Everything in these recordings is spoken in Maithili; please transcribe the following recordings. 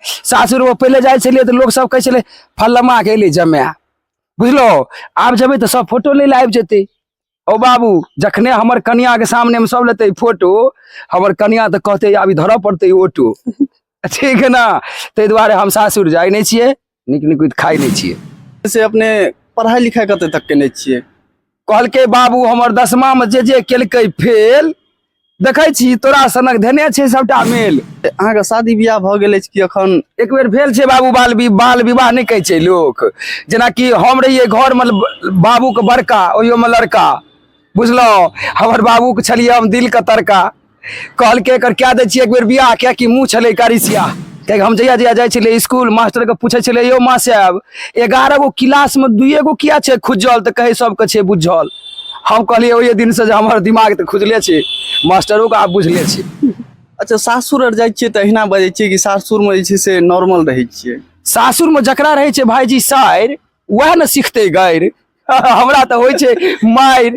सासुर में पहले जाए छलिए तो लोग सब कहे छले फल्लमा के अली जमे बुझलो आब जेबे तो सब फोटो ले आबि जेते ओ बाबू जखने हमर कनिया के सामने में सब लेते फोटो हमर कनिया तो कहते आब धर पड़ते ऑटो ठीक है ना ताहि दुआरे हम सासुर जाए नहीं छे नीक नीक कुछ खाइ नहि छियै से अपने पढ़ाइ लिखाइ कतऽ तक केने छियै कहलकै बाबू हमर दसमा मे जे जे केलकै फेल देखै छी तोरा सनक धेने छै सबटा मेल अहाँके शादी बियाह भऽ गेल अछि कि अखन एक बेर भेल छै बाबू बाल वि- बाल विवाह नहि कहै छै लोक जेनाकि हम रहियै घरमे ल- बाबूके बड़का ओहियोमे लड़का बुझलहुँ हमर बाबूके छलियै हम दिलके तड़का कहलकै एकर कए दै छियै एक बेर बियाह किया कि मुँह छलै करिसिया कियाकि हम जहिया जहिया जाइ छलियै स्कूल मास्टरके पूछै छलियै यौ माँ साहब एगारह गो क्लासमे दुइए गो किया छै खुजल तऽ कहै सबके छै बुझल हम कहलियै ओहि दिनसँ जे हमर दिमाग तऽ खुजले छै मास्टरोके आब बुझले छै अच्छा सासुर आर जाइ छियै तऽ अहिना बजै छियै कि सासुरमे जे छै से नॉर्मल रहै छियै सासुरमे जकरा रहै छै भायजी साइर वएह ने सिखतै गारि हमरा तऽ होइ छै मारि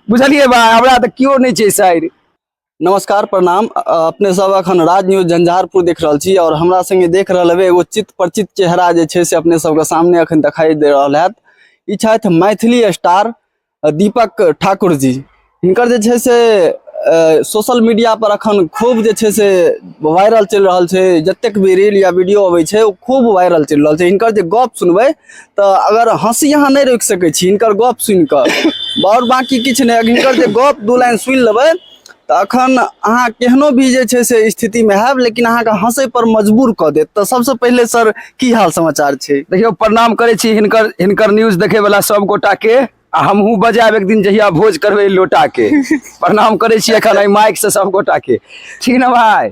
बुझलियै भाय हमरा तऽ केओ नहि छै साइर नमस्कार प्रणाम अपने सब अखन राज न्यूज झंझारपुर देख रहल छी और हमरा संगे देख रहल हेबै एगो चित परिचित चेहरा जे छै से अपने सबके सामने अखन दिखाई दे रहल हैत ई छथि मैथिली स्टार दीपक ठाकुर जी हिनकर जे छै से सोशल मीडिया पर अखन खूब जे छै से वायरल चलि रहल छै जतेक भी रील या वीडियो अबै छै ओ खूब वायरल चलि रहल छै हिनकर जे गप सुनबै तऽ अगर हँसी अहाँ नहि रोकि सकै छी हिनकर गप सुनि कऽ आओर बाँकी किछु नहि हिनकर जे गप दू लाइन सुनि लेबै तऽ अखन अहाँ केहनो भी जे छै से स्थितिमे हैब लेकिन अहाँके हँसै पर मजबूर कऽ देत तऽ सबसँ पहिले सर की हाल समाचार छै देखियौ प्रणाम करै छी हिनकर हिनकर न्यूज देखैवला सभगोटाके आ हमहूँ बजायब एक दिन जहिया भोज करबै लोटा के प्रणाम करै छी एखन एहि माइक से सब गोटा के ठीक ने भाय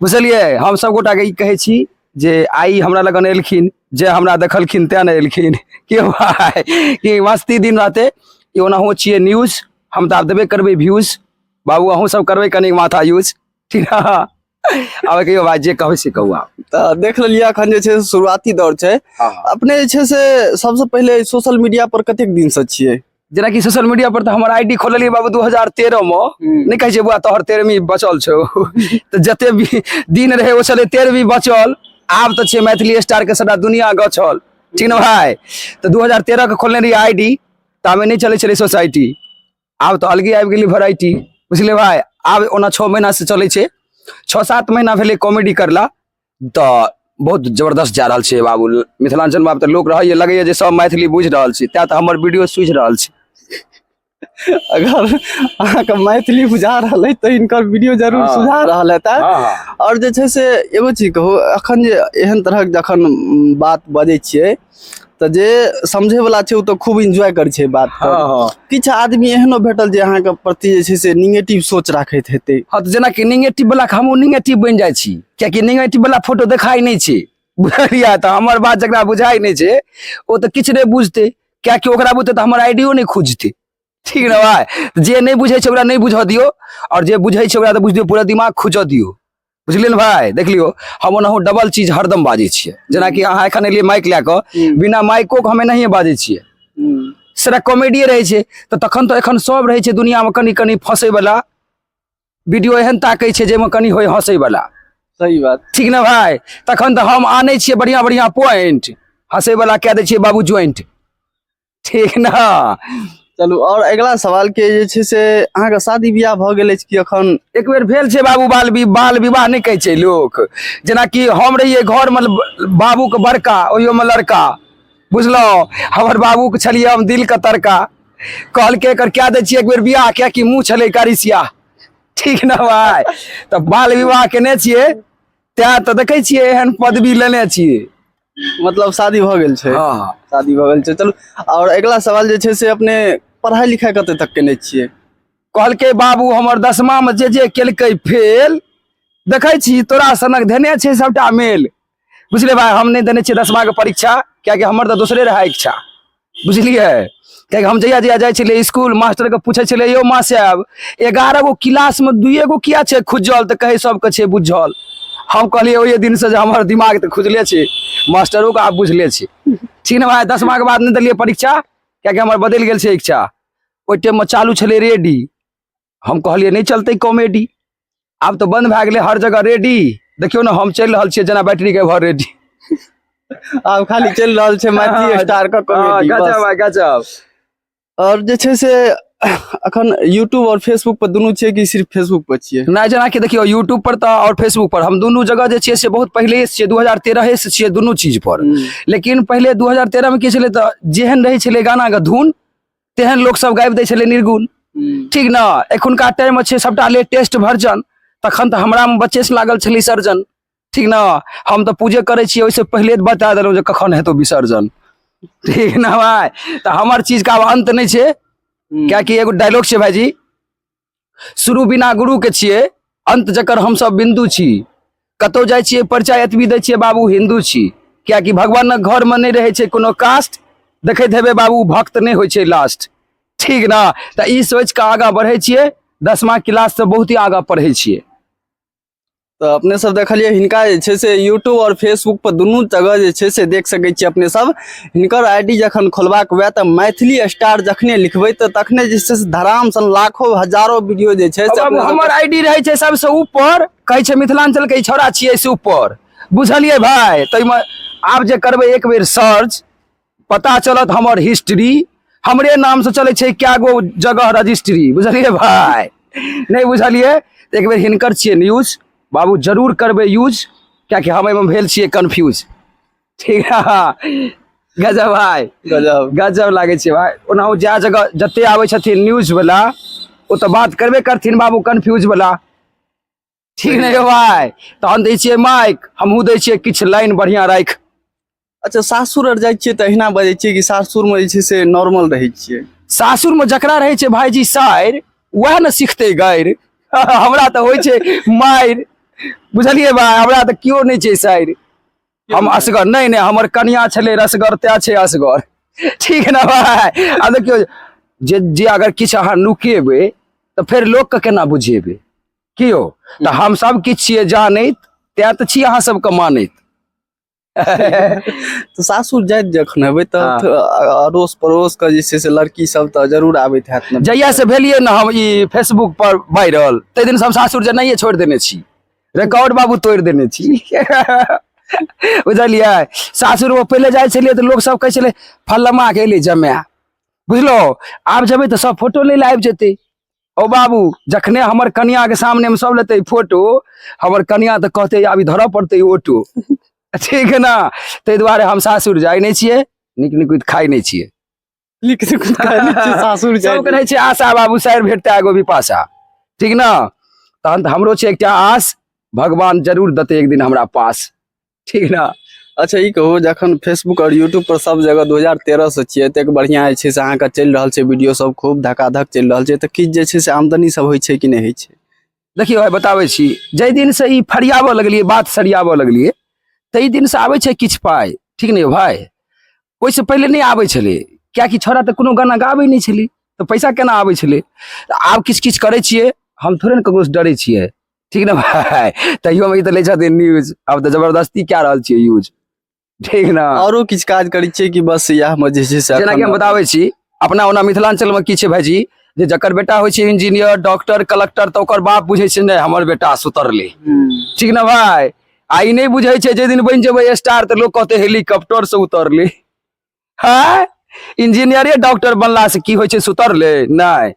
बुझलियै हम सब गोटा के ई कहै छी जे आइ हमरा लगन एलखिन जे हमरा देखलखिन तें ने एलखिन के भाय कि मस्ती दिन रहते ई ओनाहु छियै न्यूज हम तऽ आब देबे करबै व्यूज बाबू अहूँ सब करबै कनी माथा यूज ठीक ने आब कहियो बात जे कहबै से कहू आप तऽ देख लेलिए अखन जे छै शुरुआती दौर छै हाँ, हाँ। अपने जे छै से सबसँ पहिले सोशल मीडिया पर कतेक दिन से छियै जेना कि सोशल मीडिया पर तऽ हमर आईडी खोललियै बाबू 2013 में हम्म। नहि कहै छै बुआ तोहर तेरहवीं बचल छौ तऽ जते भी दिन रहै ओ छलै तेरहवीं बचल आब तऽ छै मैथिली स्टार के सबटा दुनिया गछल ठीक ने भाई तऽ 2013 के खोलने रही आईडी तामे नहि चलै छलै सोसाइटी आब तऽ अलगे आबि गेलै वेराइटी बुझलियै भाय आब ओना छओ महीना से चलै छै छओ सात महीना भेलै कॉमेडी करला तऽ बहुत जबरदस्त जा रहल छै बाबू मिथिलाञ्चल में आब तऽ लोक रहैए लगैए जे सब मैथिली बुझि रहल छै तेँ तऽ हमर वीडियो सुझि रहल छै अगर अहाँके मैथिली बुझा रहल है तऽ हिनकर वीडियो जरूर हाँ। सुझा रहल हेतै हँ हँ आओर जे छै से एगो चीज कहू एखन जे एहन तरहक जखन बात बजै छियै तऽ जे समझे वाला छै ओ तऽ खूब एंजॉय करै छै बात हँ हँ किछु आदमी एहनो भेटल जे अहाँके प्रति जे छै से निगेटिव सोच राखैत हेतै हँ तऽ जेनाकि निगेटिव बला हमहूँ निगेटिव बनि जाइ छी कियाकि निगेटिव बला फोटो देखाइ नहि छै बुझलियै तऽ हमर बात जकरा बुझाइ नहि छै ओ तऽ किछु नहि बुझतै कियाकि ओकरा बुते तऽ हमर आइडियो नहि खुजतै ठीक ना भाई जे नहीं बुझे छे ओकरा नहीं बुझा दियो और जे बुझे छे ओकरा तो बुझ दियो पूरा दिमाग खुजा दियो बुझलिए ने भाई देख लियो हम ओनाहु डबल चीज हरदम बाजे छे जना कि अहाँ एखन एलिए माइक ले क बिना माइको के हमें नहीं बाजे छे सारा कॉमेडिए रहे छे तो तखन तो एखन सब रहे छे दुनिया में कनी कनी फंसे वाला वीडियो एहन ताके छे जे में कनी होय हंसे वाला सही बात ठीक ना भाई तखन तो हम आने छे बढ़िया बढ़िया पॉइंट हंसे वाला कह दे छे बाबू ज्वाइंट ठीक ने चलू आओर अगिला सवाल के जे छै से अहाँके शादी बियाह भऽ गेल अछि कि अखन एक बेर भेल छै बाबू बाल वि- बाल विवाह नहि कहै छै लोक जेनाकि हम रहियै घरमे ल- बाबूके बड़का ओहियोमे लड़का बुझलहुँ हमर बाबूके छलियै हम दिलके तड़का कहलकै एकर कए दै छियै एक बेर बियाह किएकि मुँह छलै करिसिया ठीक ने भाय तऽ बाल विवाह केने छियै तैँ तऽ देखै छियै एहन पदवी लेने छियै मतलब शादी भऽ गेल छै हँ हँ शादी भऽ गेल छै चलू आओर अगिला सवाल जे छै से अपने पढ़ाइ लिखाइ कतऽ तक केने छियै कहलकै बाबू हमर दसमा में जे जे केलकै फेल देखै छी तोरा सनक धेने छै सबटा मेल बुझले भाय हम नहि देने छियै दसमा के परीक्षा कियाकि हमर तऽ दोसरे रहै इच्छा बुझलियै कियाकि हम जहिया जहिया जाइ छलियै स्कूल मास्टरके पूछै छलियै यौ माँ साहब एगारह गो क्लासमे दुइए गो किया छै खुजल तऽ कहै सभके छै बुझल हम कहलियै ओहि दिनसँ जे हमर दिमाग तऽ खुजले छै मास्टरोके आब बुझले छै ठीक ने भाय दसमाके बाद नहि देलियै परीक्षा कियाकि हमर बदलि गेल छै इच्छा ओहि टाइममे चालू छलै रेडी हम कहलियै नहि चलतै कॉमेडी आब तऽ बंद भए गेलै हर जगह रेडी देखियौ ने हम चलि रहल छियै जेना बैटरी के भर रेडी आब खाली चलि रहल छै मैथिली हाँ, स्टार के हाँ, कॉमेडी गजब बस। है, गजब और जे छै से अखन यूट्यूब और फेसबुक पर दुनू छियै कि सिर्फ फेसबुक पर छियै नहि जेनाकि देखियौ यूट्यूब पर तऽ आओर फेसबुक पर हम दुनू जगह जे छियै से बहुत पहिले से छियै दू हजार तेरहे से छियै दुनू चीज पर लेकिन पहिले 2013 में की छलै तऽ जेहन रहै छलै गाना के धुन तेहन लोक सब गाबि दै छलै निर्गुण ठीक ने एखुनका टाइम में छै सबटा लेटेस्ट वर्जन तखन तऽ हमरा में बच्चे से लागल छलै सर्जन ठीक ने हम तऽ पूजे करै छियै ओहिसँ पहिले तऽ बता देलहुँ जे कखन हेतौ विसर्जन ठीक ने भाय तऽ हमर चीज का आब अंत नहि छै कियाकि एगो डायलॉग छै भाईजी शुरू बिना गुरुके छियै अन्त जकर हमसभ बिन्दु छी कतहु जाइ छियै परिचय एतबी दै छियै बाबू हिन्दू छी किएकि भगवानक घरमे नहि रहै छै कोनो कास्ट देखैत हेबै बाबू भक्त नहि होइ छै लास्ट ठीक ने तऽ ई सोचि कऽ आगाँ बढ़ै छियै दसमा क्लाससँ बहुत ही आगाँ पढ़ै छियै तऽ अपने सब देखलियै हिनका जे छै से यूट्यूब आओर फेसबुक पर दुनू जगह जे छै से देख सकै छियै अपने सब हिनकर आईडी जखन खोलबाक हुए तऽ मैथिली स्टार जखने लिखबै तऽ तखने जे छै से धराम सन लाखो हजारो वीडियो जे छै से अब अपने सब- हमर आईडी रहै छै सबसे ऊपर कहै छै मिथिलांचल के ई छौड़ा छियै से ऊपर बुझलियै भाय ताहिमे आब जे करबै एक बेर सर्च पता चलत हमर हिस्ट्री हमरे नाम से चले छै क्या गो जगह रजिस्ट्री बुझलिए भाई नहीं बुझलिए एक बेर हिनकर छे न्यूज बाबू जरूर करबे यूज क्या कि हम एहिमे भेल छे कन्फ्यूज ठीक है गजब भाई गजब गजब लागे छे भाई ओनाहु जा जगह जते आवे छथिन न्यूज वाला ओ तो बात करबे करथिन बाबू कन्फ्यूज वाला ठीक नहि यौ भाय तहन दै छियै माइक हमहूँ दै छियै किछु लाइन बढ़िआँ राखि अच्छा सासुर आर जाइ छियै तऽ अहिना बजै छियै कि सासुरमे जे छै से नॉर्मल रहै छियै सासुरमे जकरा रहै छै भायजी साइर वएह ने सिखतै गाइर हमरा तऽ होइ छै माइर बुझलियै भाय हमरा तऽ केओ नहि छै साइर हम असगर नहि नहि हमर कनिया छलै रसगर तै छै असगर ठीक ने भाय आ देखियौ जे जे अगर किछु अहाँ नुकेबै तऽ फेर लोकके केना बुझेबै कि यौ तऽ हम सब किछु छियै जानैत तैं तऽ छी अहाँ सबके मानैत तऽ सासुर जाइत जखन हेबै तऽ हाँ। थ- अ- अड़ोस पड़ोस के जे छै से लड़की सब तऽ जरूर आबैत हैत ने जहिया से भेलियै ने हम ई फेसबुक पर वायरल ताहि दिन से हम सासुर जेनाइए छोड़ि देने छी रिकॉर्ड बाबू तोड़ि देने छी बुझलियै सासुर में पहिले जाइ छलियै तऽ लोक सब कहै छलै फल्लमा के एलै जमाय बुझलहुँ आब जेबै तऽ सब फोटो लै लए आबि जेतै ओ बाबू जखने हमर कनिया के सामने में सब लेते फोटो हमर कनिया तऽ कहते आब ई धरऽ पड़ते ऑटो ठीक है ना ताहि दुआरे हम सासुर जाइ नहि छियै नीक नीक कुछ खाइ नहि छियै नीक से कुछ खाइ नहि छियै, सासुर जाय सबके रहै छै आशा बाबू साइर भेटतै एगो विपाशा ठीक ना तहन तऽ हमरो छै एकटा आस भगवान जरूर देतै एक दिन हमरा पास ठीक ना अच्छा ई कहू जखन फेसबुक और यूट्यूब पर सब जगह 2013 से छियै एतेक बढ़िया जे छै से अहाँके चलि रहल छै वीडियो सब खूब धकाधक चलि रहल छै तऽ किछु जे छै से आमदनी सब होइ छै कि नहि होइ छै देखियौ भाई बताबै छी जाहि दिन से ई फरियाबऽ लगलियै बात सरियाबऽ लगलियै ताहि दिन से आबै छै किछु पाइ ठीक ने यौ भाई ओहिसँ पहिले नहि आबै छलै कियाकि छौड़ा तऽ कोनो गाना गाबै नहि छलै तऽ पैसा केना आबै छलै तऽ आब किछु किछु करै छियै हम थोड़े ने ककरोसँ डरै छियै ठीक ने भाय तैयो हम ई तऽ लै छथिन न्यूज आब तऽ जबरदस्ती कए रहल छियै यूज ठीक ने औरो किछु काज करै छियै कि बस इएह मे जे छै से जेना कि हम एखन- बताबै छी अपना ओना मिथिलांचल में की छै भाईजी जे जकर बेटा होइ छै इंजीनियर डॉक्टर कलेक्टर तऽ ओकर बाप बुझै छै नहि हमर बेटा सुतरले हम्म, ठीक ने भाय आ ई नहि बुझै छै जे दिन बनि जेबै स्टार तऽ लोग कहते हेलीकॉप्टर से उतरले है इंजीनियरे डॉक्टर बनला से की होइ छै सुतरले नहि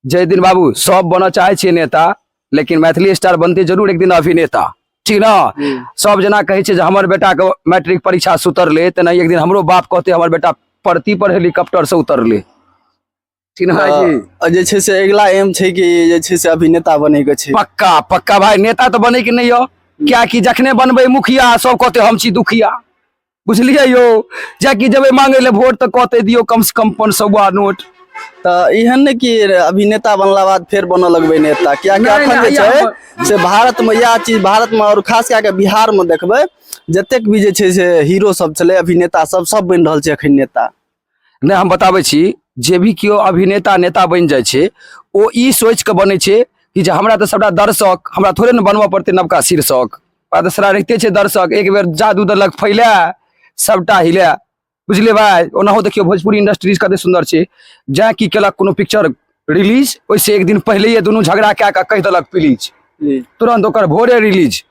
जय दिन बाबू सब बनऽ चाहै छियै नेता लेकिन मैथिली स्टार बनते जरूर एक दिन अभिनेता ठीक न हम्म। सब जना कहै छै जे हमर बेटा के मैट्रिक परीक्षा से उतरले तेना एक दिन हमरो बाप कहते हमर बेटा परती पर हेलीकॉप्टर से उतरले चिन्हा जी अ, जे छै से अगिला एम छै कि जे छै से अभिनेता बनैके छै पक्का पक्का भाई नेता तऽ बने के नहीं हो क्या कि जखने बनबे मुखिया सब कहते हम छी दुखिया बुझलिए यो जाकि जबे मांगे ले वोट तऽ कहते दियो कम से कम पाँच सौआ नोट तऽ एहन ने कि अभिनेता बनला बाद फेर बनऽ लगबै नेता कियाकि नहि, अखन जे नहि, छै यहाँ से भारतमे इएह चीज भारतमे आओर खास कए कऽ बिहारमे देखबै जतेक भी जे छै से हीरो सब छलै अभिनेता सब सब बनि रहल छै अखन नेता नहि हम बताबै छी जे भी केओ अभिनेता नेता बनि जाइ छै ओ ई सोचि कऽ बनै छै कि जे हमरा तऽ सभटा दर्शक हमरा थोड़े ने बनबऽ पड़तै नवका शीर्षक आ तऽ सरा रहिते छै दर्शक एक बेर जादू देलक फैले सभटा हिले बुझलियै भाय ओनाहो देखियौ भोजपुरी इंडस्ट्रीज कते सुन्दर छै जैँ की केलक कोनो पिक्चर रिलीज ओहिसँ एक दिन पहिलैए दुनू झगड़ा कए कऽ कहि देलक प्लीज तुरंत ओकर भोरे रिलीज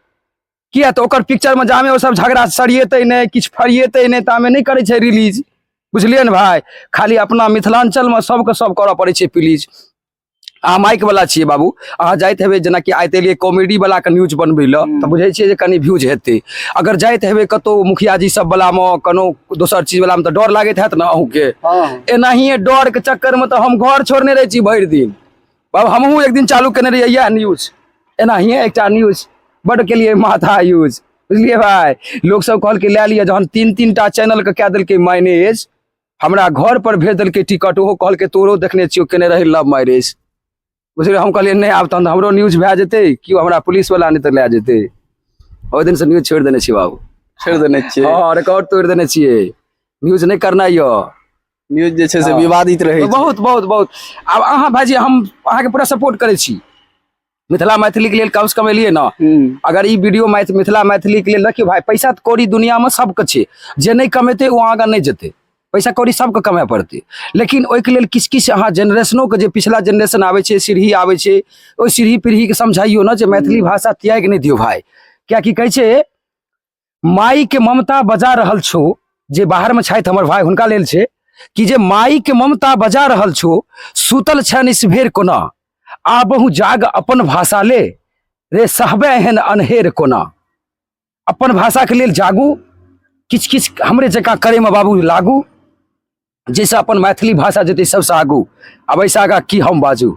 किया तऽ ओकर पिक्चर में जामे ओ सब झगड़ा सरियेतै नहि किछु फरियेतै नहि तामे नहि करै छै रिलीज बुझलियै ने भाय खाली अपना मिथिलांचल में सबके सब करऽ पड़ै छै प्लीज अहाँ माइक वाला छियै बाबू अहाँ जाइत हेबै जेनाकि आइत एलियै कॉमेडी वाला के न्यूज बनबै लए तऽ बुझै छियै जे कनि व्यूज हेतै अगर जाइत हेबै कतौ मुखिया जी सब वाला मे कोनो दोसर चीज वाला मे तऽ डर लागैत हैत ने अहूँके हाँ एनाहिए डर के चक्कर में तऽ हम घर छोड़ने रहै छी भरि दिन बाबा हमहूँ एक दिन चालू केने रहियै इएह न्यूज एनाहिए एकटा न्यूज बड्ड केलियै माथा यूज बुझलियै भाय लोकसभ कहलकै लए लिअ जहन तीन तीन टा चैनलके कए देलकै मैनेज हमरा घर पर भेज देलकै टिकट ओहो कहलकै तोरो देखने छियौ केने रही लव मैरिज बुझलियै हम कहलियै नहि आब तहन तऽ हमरो न्यूज भए जेतै केओ हमरा पुलिसवला नहि तऽ लए जेतै ओहि दिनसँ न्यूज छोड़ि देने छी बाबू छोड़ि देने छियै हँ रिकॉर्ड तोड़ि देने छियै न्यूज नहि करनाइ यऽ न्यूज जे छै से हँ। विवादित रहै छै बहुत बहुत बहुत आब अहाँ भाजी हम अहाँके पूरा सपोर्ट करै छी मिथिला मैथिलीके लेल कमसँ कम एलियै ने हम्म, अगर ई वीडियो मैथ मिथिला मैथिलीके लेल देखियौ भाय पैसा तऽ कौड़ी दुनियामे सबके छै जे नहि कमेतै ओ आगाँ नहि जेतै पैसा कौड़ी सबके कमाए पड़तै लेकिन ओहिके लेल किछु किछु अहाँ जेनरेशनोके जे पिछला जेनरेशन आबै छै सीढ़ी आबै छै ओहि सीढ़ी पीढ़ीके समझाइयो ने जे मैथिली भाषा त्याग नहि दियौ भाय किएकि कहै छै माई के ममता बजा रहल छो जे बाहर में छथि हमर भाई हुनका लेल छै कि जे माई के ममता बजा रहल छो सुतल छन इस भेर कोना आ बहु जाग अपन भाषा ले रे सहबे एहन अनहेर कोना अपन भाषा के लेल जागू किछ किछ हमरे जका करे में बाबू लागू जैसे अपन मैथिली भाषा जेतै सबसँ आगू आब ऐसा आगा की हम बाजू